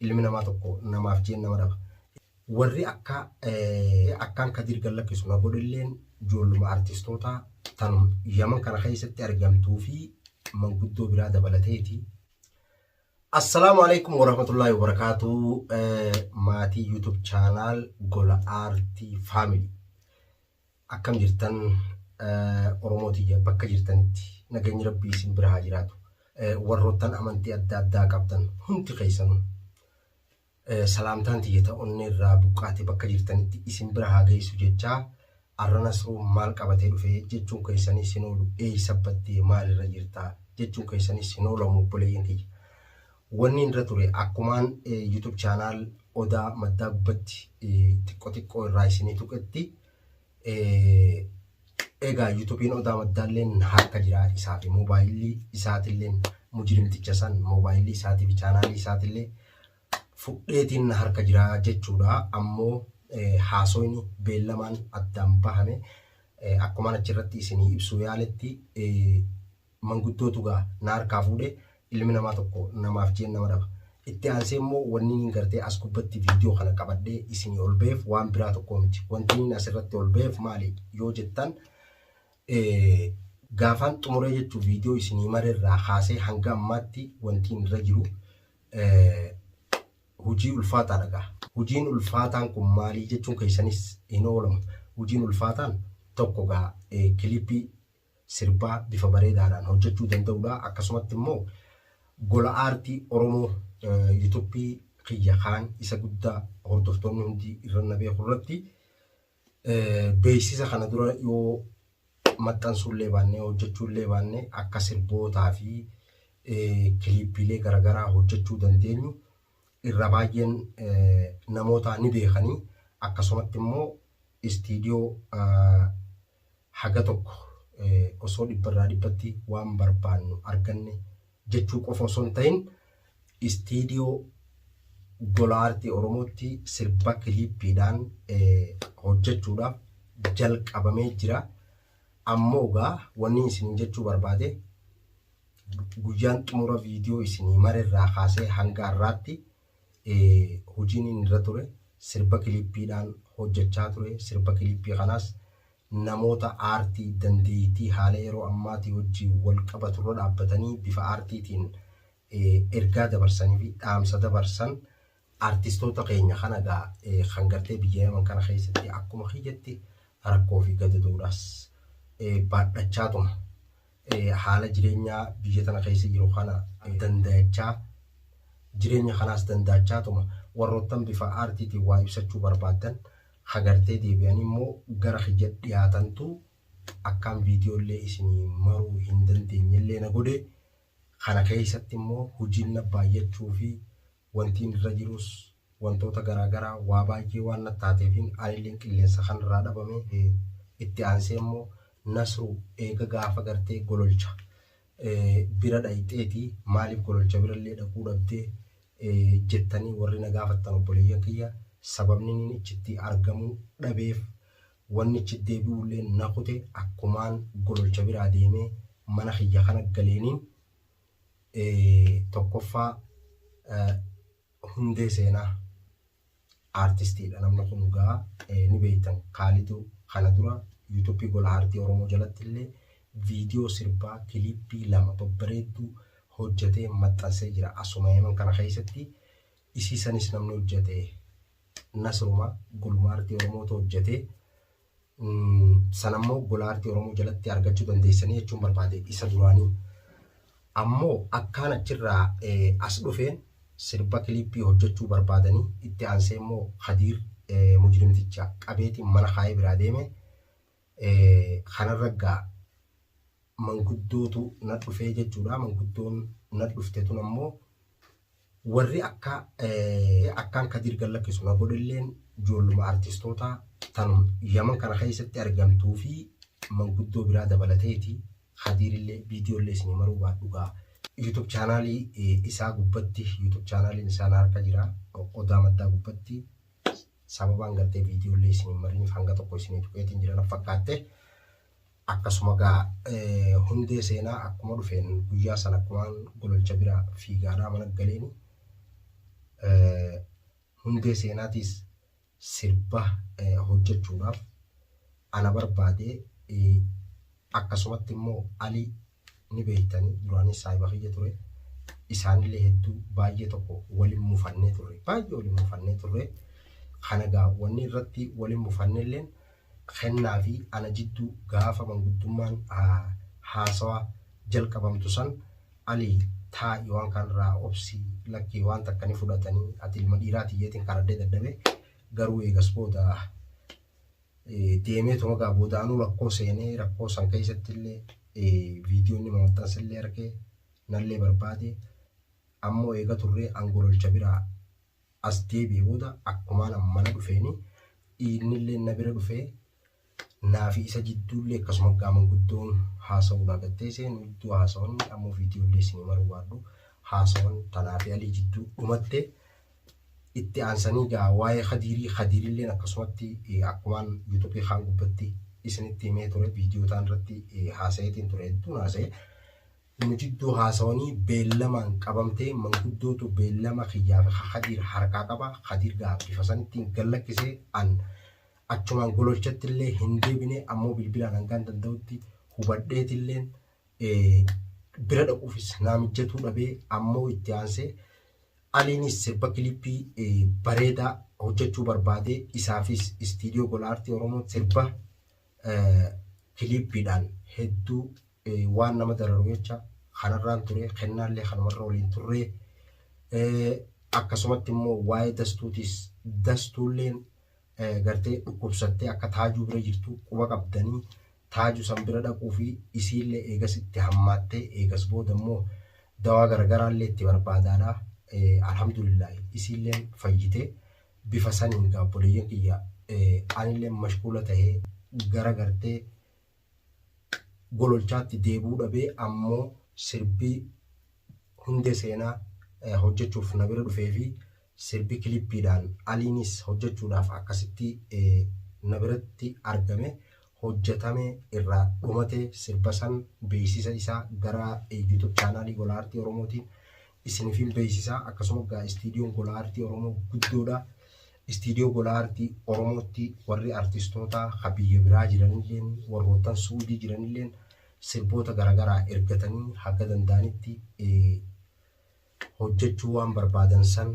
Ilmi namaa tokko namaaf jeen nama dhaba. Warri akka akkaan Kadiir gad lakkisu na godhelleen joolluma artistootaa tan Yaman kana keessatti argamtuu fi manguddoo biraa dabalateeti. Assalaamu alaikum warahmatullaahi wabarakaatuu maatii YouTube channel Gola Aartii Family. Akkam jirtan oromoo tiyya bakka jirtanitti nageenyi rabbii isin bira haa jiraatu warroottan amantii adda addaa qabdan hundi keessanu salaamtaan tiyya ta onnee irraa buqqaate bakka jirtanitti isin bira haa geessu jechaa arra nasruu maal qabatee dhufe jechuun keessanii sinoolu eeysa baddee maalirra jirta jechuun keessanii sinoolamu obboleeyyan kiyya Wannin irra ture akkumaan YouTube channel Odaa Maddaa gubbatti xiqqo xiqqoo irraa isinii tuqetti egaa YouTube'n Odaa Maddaalleen harka jira isaa fi moobaayilli isaatilleen mujrimticha san moobaayilli isaatii fi chaanaalii isaatillee fudheetiin na harka jira jechuudha ammoo haasoyni beellamaan addaan bahame akkumaan achirratti isinii ibsuu yaaletti manguddootu gaa na harkaa fuudhe ilmi namaa tokko namaaf jeen nama dhaba itti aansee immoo wanniiniin gartee as gubbatti viidiyoo kana qabadhee isinii ol baheef waan biraa tokkoo miti wantiiniin as irratti ol baheef maali yoo jettan gaafaan xumuree jechuu viidiyoo isinii mara irraa kaasee hanga ammaatti wantiin irra jiru hujii ulfaataa dhagaa hujiin ulfaataan kun maalii jechuun keessanis hin oolamu hujiin ulfaataan tokko gaa kilipii sirbaa bifa bareedaadhaan hojjechuu danda'udha. Akkasumatti immoo gola aartii Oromoo yuutuuppii kiyya kaan isa guddaa hordoftoonni hundi irra na beeku irratti beeksisa kana dura yoo maxxansuu illee baannee hojjechuu illee baannee akka sirbootaa fi kiliippiilee garaagaraa hojjechuu dandeenyu irra baay'een namootaa ni beekani akkasumatti immoo istiidiyoo haga tokko osoo dhibba irraa dhibbatti waan barbaannu arganne jechuu qofa osoo hin ta'in istiidiyoo gola aartii oromootti sirba kiliippiidhaan hojjechuudhaaf jalqabamee jira ammoo gaa wanni isin jechuu barbaade guyyaan xumura viidiyoo isinii mara irraa kaasee hanga har'aatti hojiin inni irra ture sirba kilippiidhaan hojjechaa ture. Sirba kilippii kanaas namoota aartii dandeettii haala yeroo ammaatii wajjin wal qabatu irra dhaabbatanii bifa aartiitiin ergaa dabarsanii fi dhaamsa dabarsan Artistoota keenya kana egaa kan gartee biyya Yaman kana keessatti akkuma kiyyatti rakkoo fi gadadoodhaas baadhachaatuma haala jireenyaa biyya tana keessa jiru kana dandayachaa jireenya kanaas dandaachaatuma warroottan bifa aartiitiin waa ibsachuu barbaaddan hagartee deebi'an immoo gara kiyya dhiyaatantu akkaan viidiyoo illee isinii maruu hin dandeenye illee na godhe kana keessatti immoo hojiin na baay'achuu fi Wantiin irra jirus wantoota garaa garaa waa baay'ee waan natti taateefin anilleen qilleensa kanarraa dhabame. Itti aansee immoo Nasru eega gaafa gartee gololcha bira dhayxeeti maaliif gololcha birallee dhaquu dhabde jettanii warri na gaafattan obboleeyyan kiyya sababni niin ichitti argamuu dhabeef wanni ichi deebi'uulleen na kute akkumaan gololcha biraa deemee mana kiyya kana galeeniin tokkoffaa hundee seenaa aartistiidha namni kun dhugaa ni beektan kaalidu kana dura yuutuuppii gola aartii oromoo jalatti illee viidiyoo sirbaa kiliippii lama babbareedduu hojjetee maxxansee jira asuma yeman kana keessatti isii sanis namni hojjete nasruma guluma aartii oromootu hojjete san ammoo gola aartii Oromoo jalatti argachuu dandeessanii jechuun barbaade isa duraanii. Ammoo akkaan achirraa as dhufeen sirba kiliippii hojjechuu barbaadanii itti aansee immoo Kadiir mujrimticha qabeetiin mana kaayee biraa deeme kanarra gaa manguddootu na dhufee jechuudha. Manguddoon na dhufte tun ammoo warri akka akkaan Kadir gallakkisu na godhelleen joolluma artistoota tan Yaman kana keessatti argamtuu fi manguddoo biraa dabalateeti. Kadirillee viidiyoollee isinii maruu baadhugaa YouTube chaanaalii isaa gubbatti YouTube chaanaaliin isaa na harka jira odaa maddaa gubbatti sababaan gartee viidiyoollee isinii mariniif hanga tokko isinii tuqeetiin jira na fakkaatte. Akkasuma gaa hundee seenaa akkuma dhufeen guyyaa san akkumaan gololcha bira fiigaadhaa mana galeeni hundee seenaatiis sirba hojjechuudhaaf ana barbaade akkasumatti immoo ali ni beektani duraanis saahiba kiyya ture isaanillee hedduu baay'ee tokko walin mufannee turre baay'ee walin mufannee turre kana gaa wanni irratti walin mufannelleen kennaa fi ana jidduu gaafa manguddummaan haasawa jalqabamtu san ali taa'i waan kaan irraa obsi lakkii waan takka ni fudhatanii ati ilma dhiiraati jeetiin karadde dadhabe garuu eegas booda deemeetuma egaa boodaanuu rakkoo seenee rakkoo san keessatti illee viidiyoo inni maxxanse illee argee nallee barbaade ammoo eega turree angololcha biraa as deebi'e booda akkumaan mana dhufeeni dhiirni illee na bira dhufee naafi isa jidduu illee akkasuma gaaman guddoon haasa'uu naa gattee seen iddoo haasawan ammoo viidiyoo illee isinii maruu baadhu haasawan tanaafi alii jidduu dhumatte Itti aansanii egaa waa'ee Kadiirii, Kadiirilleen akkasumatti akkumaan Yuutuubii kaan gubbatti isinitti himee ture viidiyoo taan irratti haasayeetiin ture hedduun haasaye. Nu jidduu haasawanii beellamaan qabamtee manguddootu beellama kiyyaa fi ka Kadiir harkaa qaba. Kadiir egaa bifa sanittiin gad lakkise an achumaan gololchattillee hin deebine ammoo bilbilaan hangaan danda'utti hubadheetilleen bira dhaquufis naa mijjatuu dhabee ammoo itti aansee Aliinis sirba kilippii bareedaa hojjechuu barbaadee isaafis istiidiyoo gola aartii Oromoo sirba kilippiidhaan hedduu waan nama dararu jecha kanarraan ture kennaallee kanumarra waliin turree akkasumatti immoo waa'ee dastuutiis dastuulleen gartee dhukkubsattee akka taajuu bira jirtu quba qabdanii Taaju san bira dhaquu fi isiillee eegas itti hammaattee eegas booda immoo dawaa garagaraallee itti barbaadaadha. Alhamdulillaahi isiilleen fayyite. Bifa saniin egaa obboleeyyan kiyya anilleen mashkuula tahee gara gartee gololchaatti deebi'uu dhabee ammoo sirbii hundee seenaa hojjachuuf na bira dhufee fi Sirbi kilippiidhaan Aliinis hojjechuudhaaf akkasitti na biratti argame, hojjetame, irraa dhumate, sirba san beeksisa isaa gara YouTube chaanaalii Gola Aartii Oromootiin isinifiin beeksisa. Akkasuma egaa istiidiyoon Gola Aartii Oromoo guddoodha. Istiidiyoo Gola Aartii Oromootti warri artistootaa ka biyya biraa jiranilleen warroottan Suudii jiranilleen sirboota garaagaraa ergatanii haga danda'anitti hojjechuu waan barbaadan san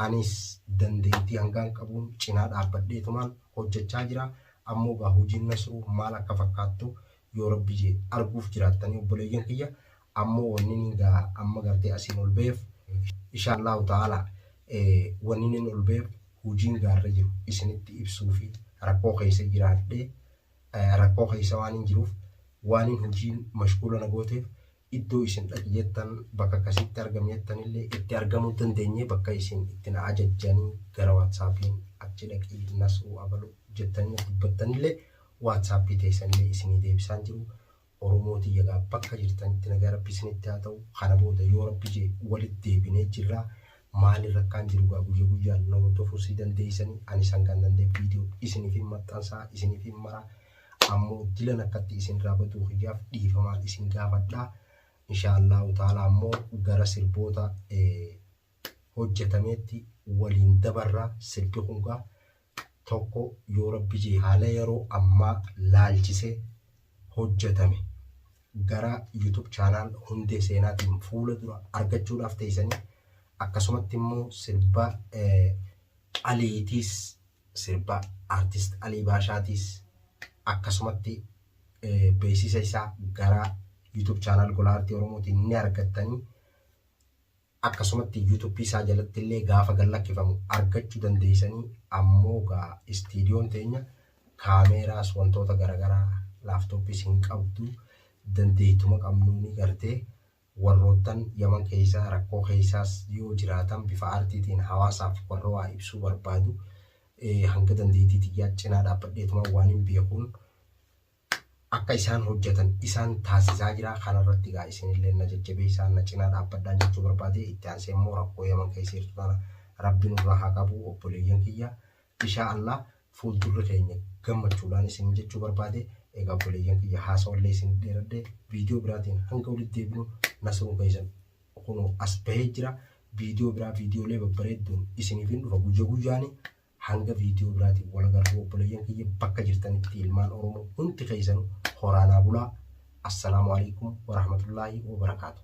anis dandeettii hangaan qabuun cinaa dhaabbadheetumaan hojjechaa jira. Ammoo gaa hojiin Nasruu maal akka fakkaattu yoo Rabbi je'e arguuf jiraattanii obboleeyyan kiyya. Ammoo wanniniin gaa amma gartee asiin ol baheef ishaallahu ta'aalaa wanniniin ol baheef hojiin gaa irra jiru isinitti ibsuufi rakkoo keessa jiraadhee rakkoo keessa waanin jiruuf waanin hojiin mashguula na gooteef iddoo isin dhaqi jettan bakka kasitti argami jettanillee itti argamuu dandenyee bakka isin itti na ajajjanii gara watsappiin achi dhaqii nasruu abalu jettanii natti dubbattanillee watsappii teessanillee isinii deebisaan jiru oromoo tiyya gaa bakka jirtanitti nagaa rabbi isinitti haa ta'u kana booda yoo rabbi jee walit deebinee jirra maali rakkaan jiru gaa guyya guyyaan na hordofuu si dandeeysanii anis hangaan danda'e video isiniif hin maxxansaa isiniif hin maraa Ammo dilan akkatti isinraa baduu kiyyaaf dhiifamaa isin gaafadha. Inshaa Allaahu ta'aalaa ammo gara sirboota hojjatameetti waliin dabarra. Sirbi kun gaa tokko yoo rabbi jee haala yeroo ammaa laalchisee hojjatame gara YouTube channel hundee seenaatiin fuula dura argachuudhaaf teessanii akkasumatti immoo sirba qaliitiis Sirba Artist Alii Baashaatiis akkasumatti beeksisa isaa gara YouTube channel Gola Artii Oromootiin ni argattanii akkasumatti YouTube isaa jalatti illee gaafa gad lakkifamu argachuu dandeessanii ammoo gaa istiidiyoon teenya kaameeraas wantoota garaagaraa laaftooppiis hin qabdu dandeettuma qabnuuni gartee Warroottan Yaman keeysa rakkoo keeysaas yoo jiraatan bifa aartiitiin hawaasaaf warra waa ibsuu barbaadu hanga dandeeytii tiyyaa cinaa dhaabbadheetumaan waanin beekuun akka isaan hojjatan isaan taasisaa jira. Kana irratti egaa isinilleen na jajjabeeysaa na cinaa dhaabbadhaan jechuu barbaade. Itti aansee immoo rakkoo Yaman keeysa jirtu tana Rabbi nurraa haa qabu obboleeyyan kiyya. Ishaa Allah fuuldurri keenya gammachuudhaan isiniin jechuu barbaade. Egaa obboleeyyan kiyya haasawallee isinii dheeradhe. Viidiyoo biraatiin hanga walitti deebinu Nasruun keessan kunoo as bahee jira. Viidiyoo biraa viidiyoolee babbareedduun isiniif hin dhufa guyya guyyaani. Hanga viidiyoo biraatiin wal agarru obboleeyyan kiyya bakka jirtanitti ilmaan Oromoo hundi keessanu horaa naa bulaa. Assalaamu alaikum warahmatullaahi wabarakaatuh.